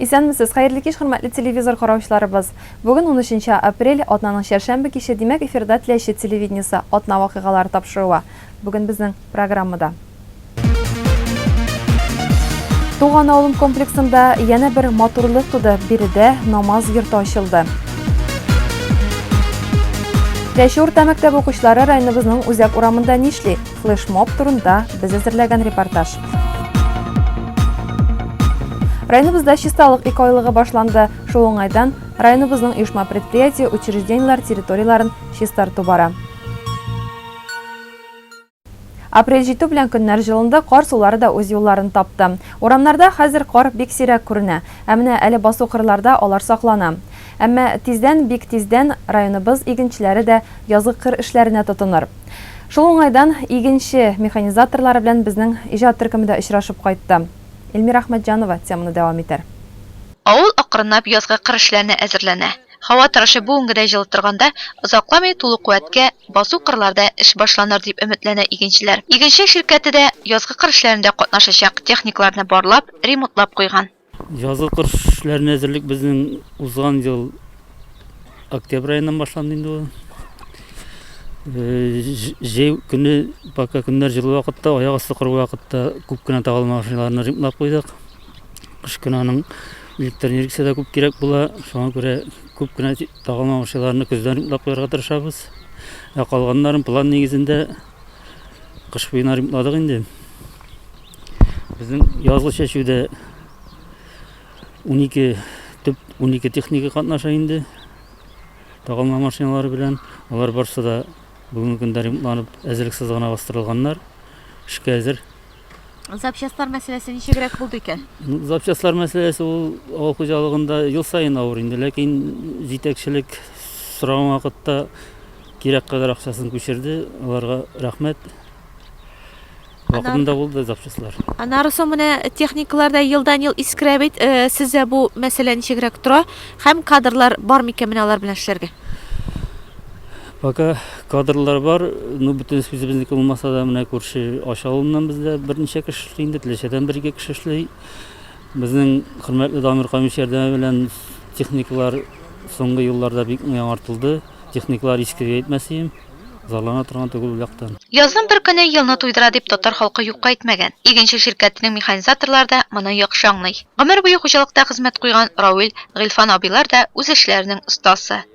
Исәнмесез, хәерле кич хөрмәтле телевизор караучыларыбыз! Бүген унөченче апрель, атнаның чәршәмбе киче, димәк эфирда Теләче телевидениесе, атна вакыйгалары тапшыруы. Бүген безнең программада. Туган авылым комплексында янә бер матурлык туды, биредә намаз йорты ачылды. Теләче урта мәктәбе укучылары районыбызның Үзәк урамында нишли? флешмоб турында без әзерләгән репортаж. Районыбызда чисталык ике айлыгы башланды. Шул уңайдан районыбызның оешма предприятие, учреждениеләр территорияләрен чистарту бара. Апрель җитү белән көннәр җылынды, кар сулары да үз юлларын тапты. Урамнарда хәзер кар бик сирәк күренә, ә менә әле басу кырларда алар саклана. Әмма тиздән, бик тиздән районыбыз игенчеләре дә язгы кыр эшләренә тотыныр. Шул уңайдан игенче механизаторлары белән безнең иҗат төркеме дә очрашып кайтты. Эльмира Әхмәтҗанова теманы дәвам итәр. Авыл акрынлап язгы кыр эшләренә әзерләнә. Һава торышы бүгенгедәй җылы торганда, озакламый тулы куәткә басу кырларда эш башланыр дип өметләнә игенчеләр. Игенче ширкәте дә язгы кыр эшләрендә катнашачак техникаларны барлап, ремонтлап куйган. Язгы кыр эшләренә әзерлек безнең узган ел октябрь аеннан башланды инде ул. Җәй көне, пока көннәр җылы вакытта, аяк асты кыр вакытта күп кенә тагылма машиналарны ремонтлап куйдык. Кыш көне аның электр энергиясе дә күп кирәк була, шуңа күрә күп кенә тагылма машиналарны көздән ремонтлап куярга тырышабыз. Ә калганнарын план нигезендә Кыш буена ремонтладык инде. Безнең язлы чәчүдә 12 төп 12 техника катнаша инде. Тагылма машиналары белән. Алар барсы да бүгенге көндә ремонтланып әзерлексез гына бастырылганнар. Эшкә әзер. Запчастлар мәсьәләсе ничегрәк булды икән? Запчастлар мәсьәләсе ул авыл хуҗалыгында ел саен авыр инде, ләкин җитәкчелек сораган вакытта кирәк кадәр акчасын күчерде. Аларга рәхмәт. Вакытында булды запчастлар. Аннары соң менә техникалар да елдан-ел искерә бит. Э, Сездә бу мәсьәлә ничегрәк тора? Һәм кадрлар бар микән менә алар белән эшләргә? Пока кадрлар бар, ну бөтен сүзебезнеке булмаса да, менә күрше Ач авылыннан бездә берничә кеше эшли инде, Теләчәдән бер-ике кеше эшли. Безнең хөрмәтле Дамир Камич ярдәме белән техникалар соңгы елларда бик яңартылды. Техникалар иске дип әйтмәсеем, зарлана торган түгел ул яктан. Язның бер көне елны туйдыра дип татар халкы юкка әйтмәгән. Игенче ширкәтенең механизаторлары да моны яхшы аңлый. Гомер буе хуҗалыкта хезмәт куйган Рауил, Гыйльфан абыйлар да үз эшләренең остасы.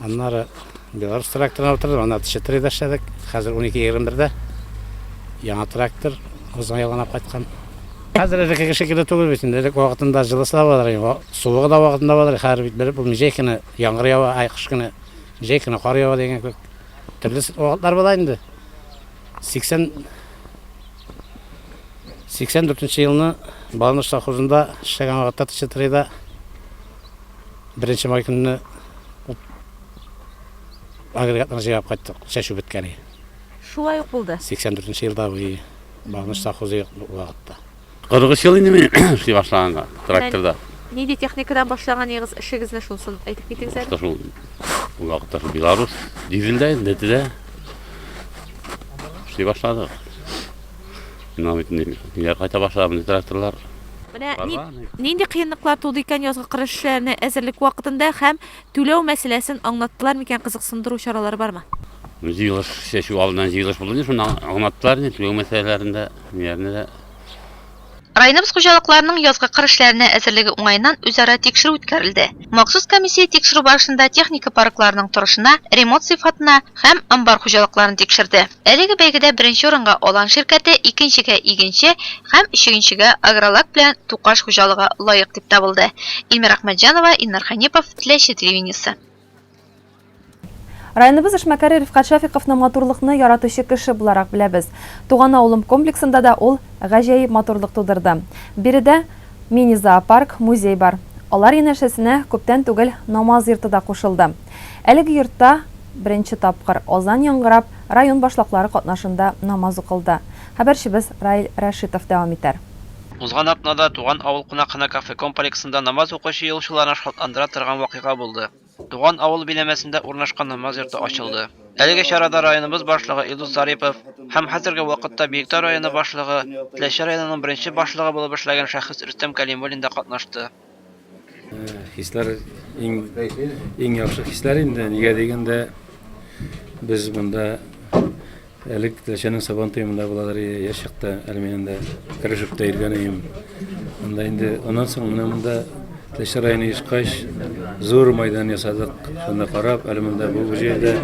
Аннары Беларусь тракторына утырдым, аны теше тырыйда эшләдек. Хәзер 12-21-дә яңа трактор узган ел гына кайткан. Хәзер элеккеге шикелле түгел бит инде. Элек вакытында җылысы да булыр, суыгы да вакытында булыр. Хәзер бит белеп булмый, җәй көне яңгыр ява, ай кыш көне, җәй көне кар ява дигән кебек. Төрле вакытлар була инде. 80 84 елны Балныш совхозында эшләгән вакытта Тычытырыйда Беренче май көнне агрегатларны җыйгап кайттык, чәчү беткән иде. Шулай ук булды. 84 нче елда бу багыныч совхозы юк вакытта. 43 ел инде мин эшли башлаганга, тракторда. Нинди техникадан башлаганыгыз эшегезне шунсын әйтеп китегез әле. Шул ул вакытта шул Беларусь дизелдә, ДТД эшли башладык. Менә бит инде өйләр кайта башлады, менә тракторлар. Менә нинди кыенлыклар туды икән язгы кырыш эшләренә әзерлек вакытында һәм түләү мәсьәләсен аңлаттылар микән, кызыксындыру чаралары бармы? Җыелыш чәчү алдыннан җыелыш булды, шунда аңлаттылар инде түләү мәсьәләләрендә, ниләрне дә. Районыбыз хуҗалыкларының язгы кыр эшләренә әзерлеге уңаеннан үзара тикшерү үткәрелде. Махсус комиссия тикшерү барышында техника паркларының торышына, ремонт сыйфатына һәм амбар хуҗалыкларын тикшерде. Әлеге бәйгедә беренче урынга Алан ширкәте, икенчегә Игенче һәм өчегенчегә Агролак белән Тукаш хуҗалыгы лаек дип табылды. Ильмира Әхмәтҗанова, Илнар Хәнипов, Теләче телевидениесе. Районыбыз эшмәкәре Рифкат Шәфиковны матурлыкны яратучы кеше буларак беләбез. Туган авылым комплексында да ул гаҗәеп матурлык тудырды. Биредә мини-зоопарк, музей бар. Алар янәшәсенә күптән түгел Намаз йорты да кушылды. Әлеге йортта беренче тапкыр, азан яңгырап, район башлаклары катнашында намаз укылды. Хәбәрчебез Раил Рәшитов дәвам итәр. Узган атнада Туган авыл кунакханә кафе комплексында намаз укучы юлчыларны шатландыра торган вакыйга булды. Туган авыл биләмәсендә урнашкан намаз йорты ачылды. Әлеге чарада районыбыз башлыгы Илдус Зарипов һәм хәзерге вакытта Биектау районы башлыгы, Теләче районының беренче башлыгы булып эшләгән шәхес Рөстәм Кәлимуллин да катнашты. Хисләр иң иң яхшы хисләр инде. Нигә дигәндә без монда әлек Теләчәнең Сабан туемында булалар яшь чакта әле мин инде Крыжевта йөргәнем. Монда инде аннан соң менә монда Теләче районы ешкач зур майдан ясадык. Шунда карап, әле монда бу җирдә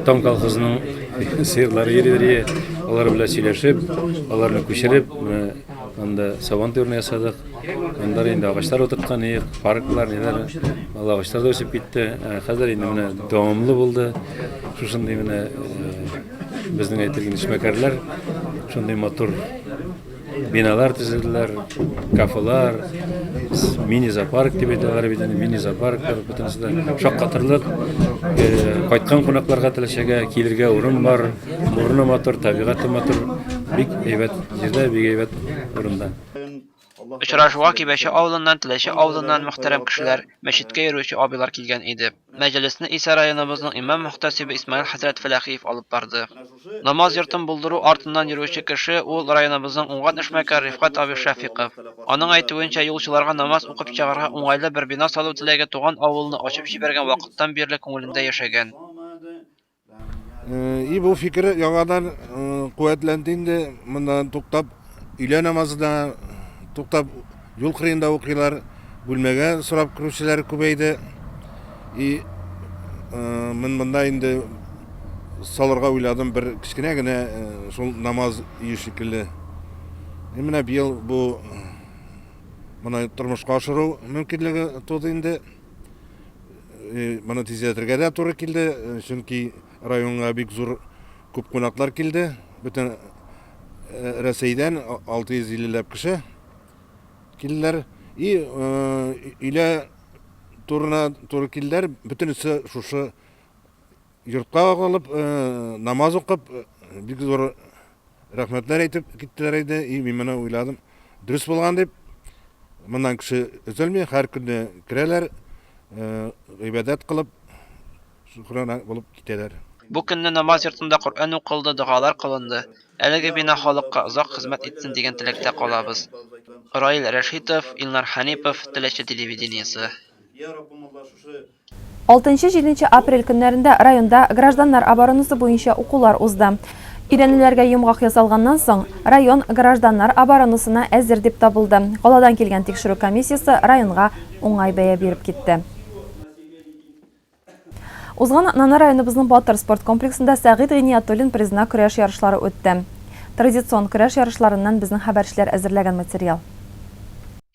Тон колхозының сыерлары йөриләр. Алар белән сөйләшеп, аларны күчереп, монда Сабан туемны ясадык. Монда да инде агачлар утырткан идек, парклар, ниләр, бала агачлар да үсеп китте. Ә Хәзер инде менә дәвамлы булды. Шушындый менә э, безнең әйтелгән эшмәкәрләр шундый матур биналар төзеделәр, кафелар, с- мини-зоопарк дип әйтәләр бит инде, мини-зоопарклар бөтенесе дә шаккатырлык. Э, Кайткан кунакларга теләчәгә килергә урын бар, урыны матур, табигате матур, бик әйбәт җирдә, бик әйбәт урында. Очрашуга Кибәче авылыннан, Теләче авылыннан мөхтәрәм кешеләр, мәчеткә йөрүче абыйлар килгән иде. Мәҗлесне исә районыбызның имам-мөхтәсибе Исмаил хәзрәт Фәләхиев алып барды. Намаз йортын булдыру артыннан йөрүче кеше ул районыбызның уңган эшмәкәр Рифкать абый Шәфыйков. Аның әйтүенчә, юлчыларга намаз укып чыгарга уңайлы бер бина салу теләге туган авылны ачып җибәргән вакыттан бирле күңелендә яшәгән. И бу фикер яңадан куәтләнде инде, монда туктап, өйлә намазы да туктап, юл кырыенда укыйлар, бүлмәгә сорап керүчеләр күбәйде. И мин монда инде салырга уйладым бер кечкенә генә шул намаз өе шикелле. И менә быел бу моны тормышка ашыру мөмкинлеге туды инде. Моны тизләтергә дә туры килде, чөнки районга бик зур күп кунаклар килде. Бөтен Рәсәйдән 650 ләп кеше килделәр. И өйлә турына туры килделәр. Бөтенесе шушы Йортка калып, намаз укып, бик зур рәхмәтләр әйтеп киттеләр иде. И, мин моны уйладым. Дөрес булган дип, моннан кеше өзелми, һәр көнне керәләр, гыйбадәт кылып, шөкранә булып китәләр. Бу көнне намаз йортында Коръән укылды, догалар кылынды. Әлеге бина халыкка озак хезмәт итсен дигән теләктә калабыз. Раил Рәшитов, Илнар Хәнипов, Теләче телевидениесе. Алтынчы-җиденче апрель көннәрендә районда гражданнар оборонасы буенча укулар узды. Өйрәнүләргә йомгак ясалганнан соң, район гражданнар оборонасына әзер дип табылды. Каладан килгән тикшерү комиссиясе районга уңай бәя биреп китте. Узган атнаны районыбызның Батыр спорт комплексында Сәгыйть Гыйниятуллин призына көрәш ярышлары үтте. Традицион көрәш ярышларыннан безнең хәбәрчеләр әзерләгән материал.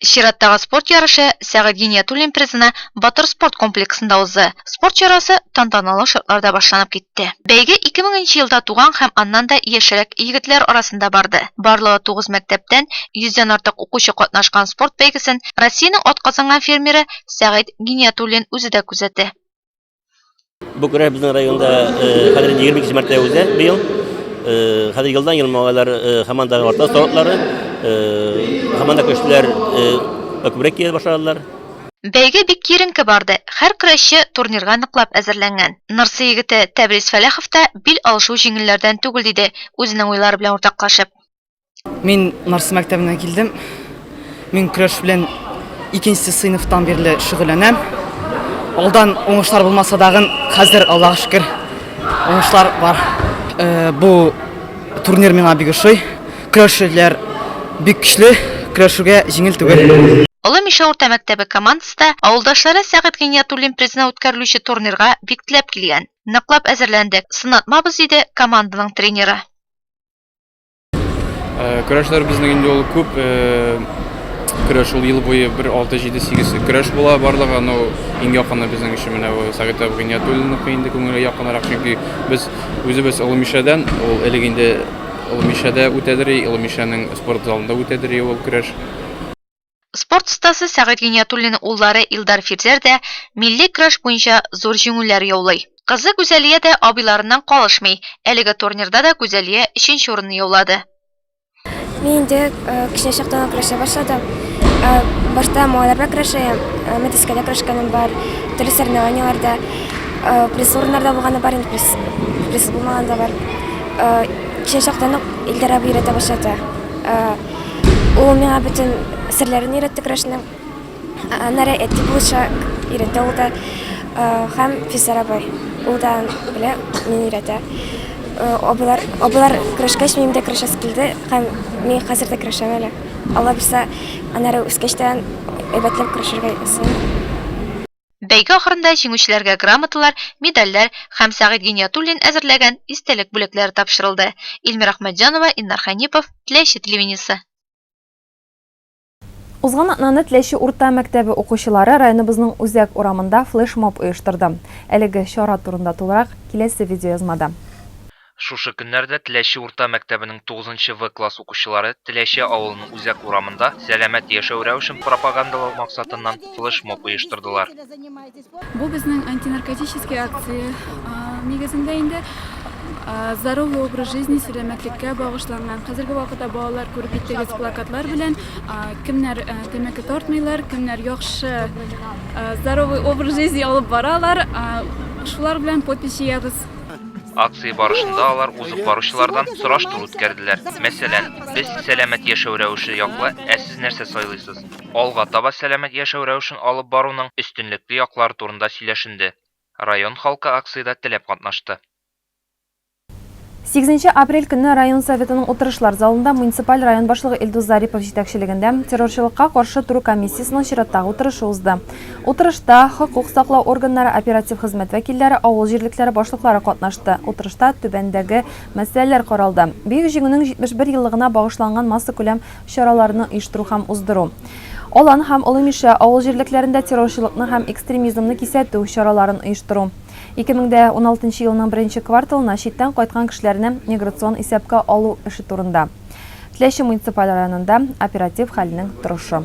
Чираттагы спорт ярышы Сәгыйть Гиниятуллин призына Батыр спорт комплексында узды. Спорт чарасы тантаналы шартларда башланып китте. Бәйге ике меңенче елда туган һәм аннан да яшьрәк егетләр арасында барды. Барлыгы тугыз мәктәптән йөздән артык укучы катнашкан спорт бәйгесен Россиянең атказанган фермеры Сәгыйть Гиниятуллин үзе дә күзәтә. Бу көрәш безнең районда хәзер 22 мәртә үзе быел. Хәзер елдан ел малайлар һаман да арта сортлары. Һаман да көчләр күбрәк килә башладылар. Бәйге бик киеренке барды. Хәр көрәшче турнирга ныклап әзерләнгән. Нырсы егете Тәбрис Фәләхов та бил алышу җиңелләрдән түгел, диде, үзенең уйлары белән уртаклашып. Мин Нарсы мәктәбеннән килдем. Мин көрәш белән икенче сыйныфтан бирле шөгыльләнәм. Алдан уңышлар булмаса дагын, хәзер Аллаһ шөкер уңышлар бар. Э, бу турнир миңа бик ошый. Көрәшчеләр бик көчле, көрәшүгә җиңел түгел. Олы Мишә урта мәктәбе командасы да авылдашлары Сәгыйть Гыйниятуллин призына үткәрелүче турнирга бик теләп килгән. Ныклап әзерләндек, сынатмабыз, диде команданың тренеры. Э, көрәшләр безнең инде ул күп э, көрәш ул ел буе бер алты җиде сигез көрәш була барлыгы ну иң якыны безнең өчен менә бу совет гыйниятуллинов инде күңелгә якынрак чөнки без үзебез олы мишәдән ул элек инде олы мишәдә үтәдер и олы мишәнең спорт залында үтәдер и ул көрәш Спорт остасы Сәгыйть Гыйниятуллин уллары Илдар Фирзәр дә милли көрәш буенча зур җиңүләр яулый. Кызы Гүзәлия дә абыйларыннан калышмый, әлеге турнирда да Гүзәлия өченче урынны яулады. Мин инде кечкенә чактан ук көрәшә башладым. Башта малайлар белән көрәшә идем, мәтрәскәдә көрәшкәнем бар, төрле соревнованиеләрдә призлы урыннар да булганы бар, призсыз булмаганы да бар. Кечкенә чактан ук Илдар абый өйрәтә башлады. Ул миңа бөтен серләрен өйрәтте көрәшнең. Аннары әти булача өйрәтә ул да. Һәм Физар абый. Ул да белә, мин өйрәтә. Абыйлар, абыйлар көрәшкәч, минем дә көрәшәс килде. Һәм мин хәзер дә көрәшәм әле. Алла бирсә, аннары үскәч тә әйбәтләп көрәшергә язсын. Бәйге ахырында җиңүчеләргә грамоталар, медальләр һәм Сәгыйть Гыйниятуллин әзерләгән истәлек бүләкләре тапшырылды. Илмира Ахмәтҗанова, Илнар Хәнипов, Теләче телевидениесе. Узган атнаны Теләче урта мәктәбе укучылары районыбызның Үзәк урамында флешмоб оештырды. Әлеге чара турында тулырак, киләсе видеоязмада. Шушы көннәрдә Теләче урта мәктәбенең тугызынчы В класс укучылары Теләче авылының үзәк урамында сәламәт яшәү рәвешен пропагандалау максатыннан флешмоб оештырдылар. Бу безнең антинаркотический акция нигезендә инде Здоровый образ жизни, сәламәтлеккә багышланган. Хәзерге вакытта балалар күреп киттегез плакатлар белән кемнәр тәмәке тартмыйлар, кемнәр яхшы здоровый образ жизни алып баралар, шулар белән подпись җыябыз. Акция барышында алар узып баручылардан сораштыру үткәрделәр. Мәсәлән, без сәламәт яшәү рәвеше яклы, ә сез нәрсә сайлыйсыз? Алга таба сәламәт яшәү рәвешен алып баруның өстенлекле яклары турында сөйләшенде. Район халкы акциядә теләп катнашты. Сигезенче апрель көнне район Советының утырышлар залында муниципаль район башлыгы Илдус Зарипов җитәкчелегендә террорчылыкка каршы тору комиссиясенең чираттагы утырышы узды. Утырышта хокук саклау органнары, оператив хезмәт вәкилләре, авыл җирлекләре башлыклары катнашты. Утырышта түбәндәге мәсьәләләр каралды, Бөек Җиңүнең 71 еллыгына багышланган массакүләм чараларны оештыру һәм уздыру, Алан һәм Олы Мишә авыл җирлекләрендә террорчылыкны һәм экстремизмны кисәтү чараларын оештыру, 2016 елның беренче кварталына читтән кайткан кешеләрне миграцион исәпкә алу эше турында, Теләче муниципаль районында оператив хәлнең торышы.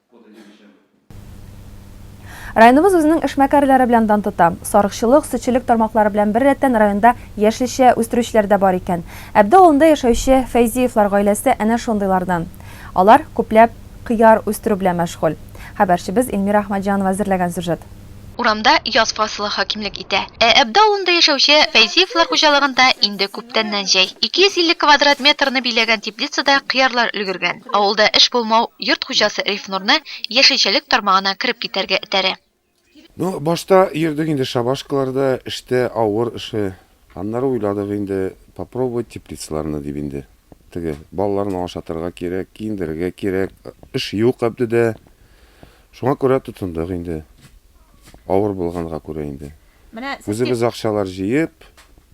Районыбыз үзенең эшмәкәрләре белән дан тота. Сарыкчылык, сөтчелек тармаклары белән беррәттән районда яшелчә үстерүчеләр дә бар икән. Әбде авылында яшәүче Фәйзиевлар гаиләсе әнә шундыйлардан. Алар күпләп кыяр үстерү белән мәшгуль. Хәбәрчебез Эльмира Әхмәтҗанова әзерләгән сюжет. Урамда яз фасылы хакимлек итә. Ә Әбде авылында яшәүче Фәйзиевлар хуҗалыгында инде күптәннән җәй. 250 квадрат метрны биләгән теплицада кыярлар өлгергән. Авылда эш булмау йорт хуҗасы Рифнурны яшелчәлек тармагына кереп китәргә этәрә. Ну, башта йөрдек инде шабашкаларда, эштә, авыр эше. Аннары уйладык инде, попробовать теплицаларны дип инде. Теге, балаларны ашатырга кирәк, киендерергә кирәк. Эш юк Әбдедә. Шуңа күрә тотындык инде. Авыр булганга күрә инде. Менә сез Үзебез акчалар җыеп,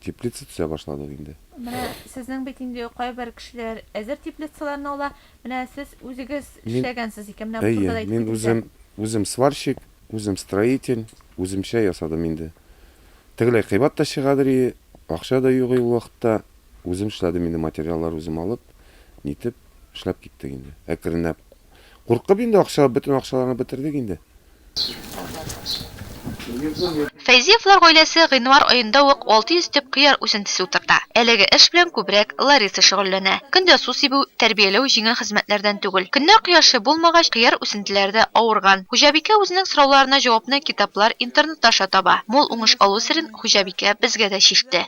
теплица төзә башладык инде. Менә сезнең бит инде кайбер кешеләр әзер теплицаларны ала. Менә сез үзегез эшләгәнсез икән, менә бу турыда да әйтеп Әйе, мин үзем, үзем сварщик, үзем строитель, үземчә ясадым инде. Тегеләй кыйбат та чыгадыр ие, акча да юк ие ул вакытта. Үзем эшләдем инде, материаллар үзем алып, нитеп, эшләп киттек инде, әкренләп. Куркып инде акча, бөтен акчаларны бетердек инде. Фәйзиевлар гаиләсе гыйнвар аенда ук 600 төп кыяр үсентесе утырта. Әлеге эш белән күбрәк Лариса шөгыльләнә. Көн дә су сибү, тәрбияләү җиңел хезмәтләрдән түгел. Көннәр кояшлы булмагач, кыяр үсентеләре дә авырган. Хуҗабикә үзенең сорауларына җавапны китаплар, интернет аша таба. Мул уңыш алу серен хуҗабикә безгә дә чиште.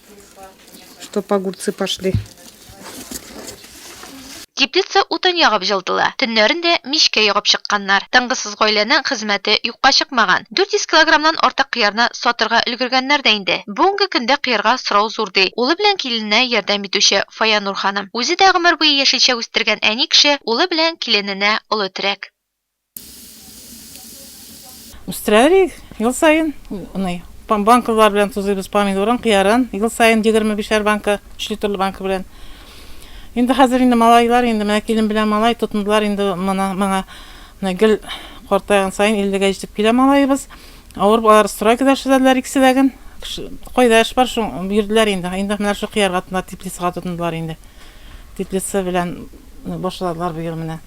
Чтоб огурцы пошли. Теплица утын ягып җылытыла. Төннәрен дә мичкә ягып чыкканнар. Тынгысыз гаиләнең хезмәте юкка чыкмаган. 400 килограммнан артык кыярны сатырга өлгергәннәр дә инде. Бүгенге көндә кыярга сорау зур, ди улы белән килененә ярдәм итүче Фаянур ханым. Үзе дә гомер буе яшелчә үстергән әни кеше улы белән килененә олы терәк. Үстерәлик ел саен. Уный. Банкалар белән тузыйбыз помидорын, кыярын. Ел саен 25-шәр банка, 3 литрлы банка белән. Инде хәзер инде малайлар инде менә килен белән малай тотындылар инде моны моңа. Менә гел картайган саен 50-гә җитеп килә малаебыз. Авыр алар стройкада эшләделәр икесе дә ген. Кайда эш бар, шул бирделәр инде. Инде менә шул кыярга тотындылар, теплицага тотындылар инде. Теплица белән башладылар быел менә.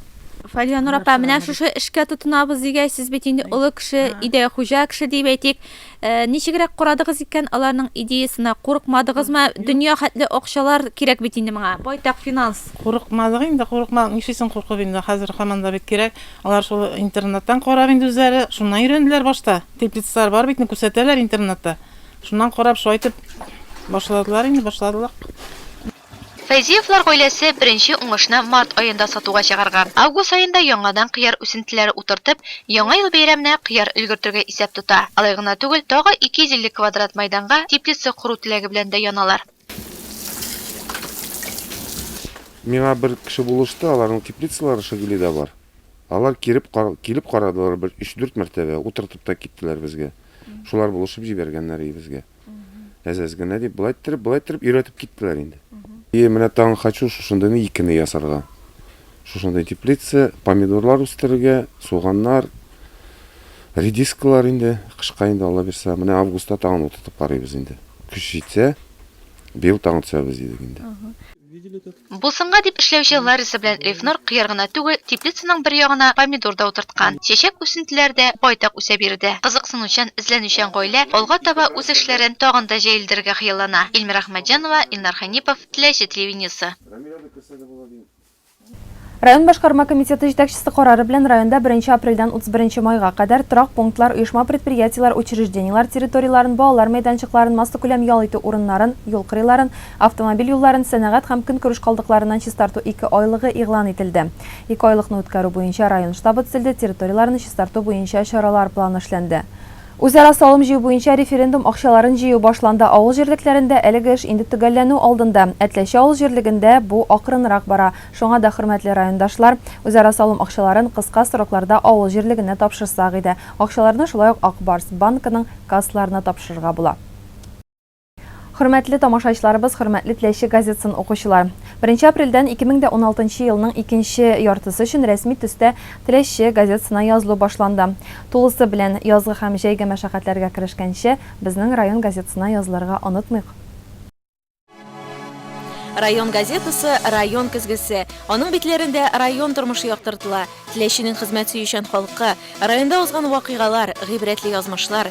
Фалиянур апа, менә шушы эшкә тотынабыз дигәч, сез бит инде олы кеше, идея хуҗа кеше дип әйтик. Э, ничегрәк карадыгыз икән аларның идеясына? Курыкмадыгызмы? Дөнья хәтле акчалар кирәк бит инде моңа. Байтак финанс. Курыкмадык инде, курыкмадык. Нишлисең куркып инде, хәзер һаман да бит кирәк. Алар шул интернеттан карап инде үзләре, шуннан өйрәнделәр башта. Теплицалар бар бит, күрсәтәләр интернетта. Шуннан карап, шулай итеп башладылар инде, башладылар. Фәйзиевлар гаиләсе беренче уңышны март аенда сатуга чыгарган. Август аенда яңадан кыяр үсентеләре утыртып, Яңа ел бәйрәменә кыяр өлгертергә исәп тота. Алай гына түгел, тагы 250 квадрат майданга теплица кору теләге белән дә яналар. Миңа бер кеше булышты, аларның теплицалары Шагилида бар. Алар кереп, килеп карадылар бер өч-дүрт мәртәбә, утыртып та киттеләр безгә. Шулар булышып җибәргәннәр өебезгә. Әз-әз генә дип, былай иттереп, былай иттереп өйрәтеп киттеләр инде. И менә тагын хочу шушындыйны икене ясарга. Шушындый теплица, помидорлар үстерергә, суганнар, редискалар инде, кышка инде Алла бирсә, менә августта тагын утыртып карыйбыз инде. Көч җитсә, быел тагын төшәрбез дидек инде. Булсынга дип эшләүче Лариса белән Эльфнур кыяр гына түгел, теплицаның бер ягына помидор да утырткан. Чәчәк үсентеләре дә байтак үсә биредә. Кызыксынучан, эзләнүчән гаилә алга таба үз эшләрен тагын да җәелдерергә хыяллана. Ильмира Әхмәтҗанова, Илнар Хәнипов, Теләче телевидениесе. Район башкарма комитеты җитәкчесе карары белән районда беренче апрельдән утыз беренче майга кадәр торак пунктлар, оешма-предприятиеләр, учреждениеләр территорияләрен, балалар мәйданчыкларын, массакүләм ял итү урыннарын, юл кырыйларын, Автомобиль юлларын сәнәгать һәм көнкүреш калдыкларыннан чистарту ике айлыгы игълан ителде. Ике айлыкны үткәрү буенча район штабы төзелде, территорияләрне чистарту буенча чаралар планы эшләнде. Үзара салым җыю буенча референдум акчаларын җыю башланды. Авыл җирлекләрендә әлеге эш инде төгәлләнү алдында. Әтләче авыл җирлегендә бу акрынрак бара. Шуңа да, хөрмәтле райондашлар, үзара салым акчаларын кыска срокларда авыл җирлегенә тапшырсак иде. Акчаларны шулай ук Ак Барс банкының кассаларына тапшырырга була. Хөрмәтле тамашачларыбыз, хөрмәтле Теләче газетсын укучылар! Беренче апрельдән 2016 елның икенче яртысы өчен рәсми төстә Теләче газетсына язылу башланды. Тулысы белән язгы һәм җәйге мәшәкатьләргә керешкәнче, безнең район газетсына язылырга онытмыйк! Район газетасы, район көзгесе. Аның битләрендә район тормышы яктыртыла, Теләченең хезмәт сөючән халкы, районда узган вакыйгалар, гыйбрәтле язмышлар,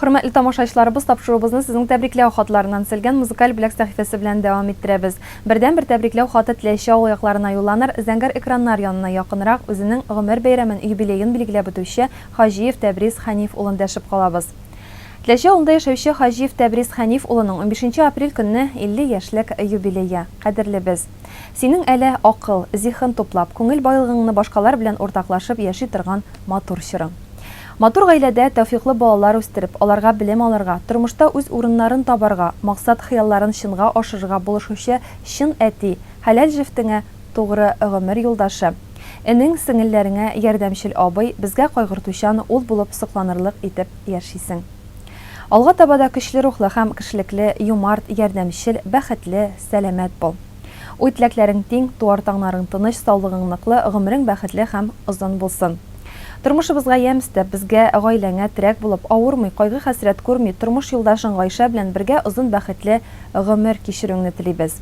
Хөрмәтле тамашаичларыбыз, тапшыруыбызны сезнең тәбрикләү хатларыннан Сэлгэн музыкаль бүләк сәхифәсе белән дәвам иттерәбез. Бердәнбер тәбрикләү хаты теләүче авыл якларына юлланыр, зәңгәр экраннар янына якынрак, үзенең гомер бәйрәмен, юбилеен билгеләп үтүче Хаҗиев Тәбрис Хәниф улын дәшеп калабыз. Теләче авылында яшәүче Хаҗиев Тәбрис Хәниф улының унбишенче апрель көнне 50 яшьлек юбилее. Кадерлебез! Синең әле акыл, зиһен туплап, күңел байлыгыңны башкалар белән уртаклашып яши торган матур чорың. Матур гаиләдә тәүфиклы балалар үстереп, аларга белем алырга, тормышта үз урыннарын табарга, максат-хыялларын чынга ашырырга булышучы чын әти, хәләл җефтеңә тугры гомер юлдашы, энең, сеңелләреңә ярдәмчел абый, безгә кайгыртучан ул булып сокланырлык итеп яшисең. Алга таба да көчле рухлы һәм кешелекле, юмарт, ярдәмчел, бәхетле, сәламәт бул. Уй-теләкләрең тиң, туар таңнарың тыныч, саулыгың ныклы, гомерең бәхетле һәм озын булсын. Тормышыбызга ямь өстәп, безгә, гаиләңә терәк булып, авырмый, кайгы-хәсрәт күрми, тормыш юлдашың Гайшә белән бергә озын бәхетле гомер кичерүеңне телибез.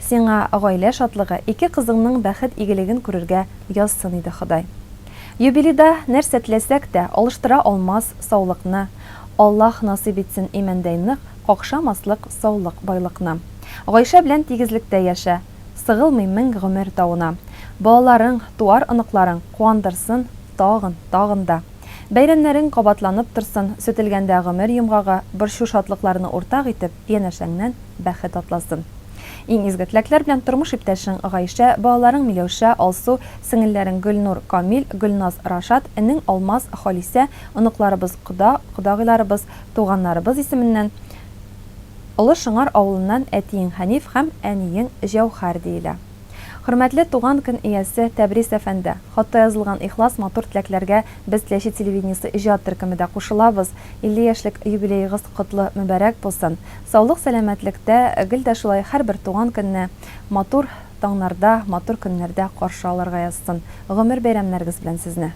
Сиңа гаилә шатлыгы, ике кызыңның бәхет игелеген күрергә язсын иде Ходай. Юбилейда нәрсә теләсәк тә, алыштыра алмас саулыкны Аллаһ насыйп итсен имәндәй нык, Какша маслык саулык байлыкны. Гайшә белән тигезлектә яшә, Сыгылмый мең гомер тавына. Балаларың, туар оныкларың Куандырсын тагын, тагын да. Бәйрәмнәрең кабатланып торсын, Сүтелгәндә гомер йомгагы, Борчу шатлыкларны уртак итеп, Янәшәңнән бәхет атласын. Иң изге теләкләр белән тормыш иптәшең Гайшә, балаларың Миләүшә, Алсу, сеңелләрең Гөлнур, Камил, Гөлназ, Рашат, энең Алмаз, Халисә, оныкларыбыз Кода, кодагыйларыбыз, Туганнарыбыз исеменнән Олы Шыңар авылыннан әтиең Хәниф һәм әниең Җәүһәр диелә. Хөрмәтле туган көн иясе Тәбрис әфәнде, хатта язылган ихлас, матур теләкләргә без Теләче телевидениесе иҗат төркеме дә кушылабыз. 50 яшьлек юбилеегыз котлы, мөбарәк булсын. Саулык-сәламәтлектә, гел дә шулай һәрбер туган көнне матур таңнарда, матур көннәрдә каршы алырга язсын. Гомер бәйрәмнәрегез белән сезне!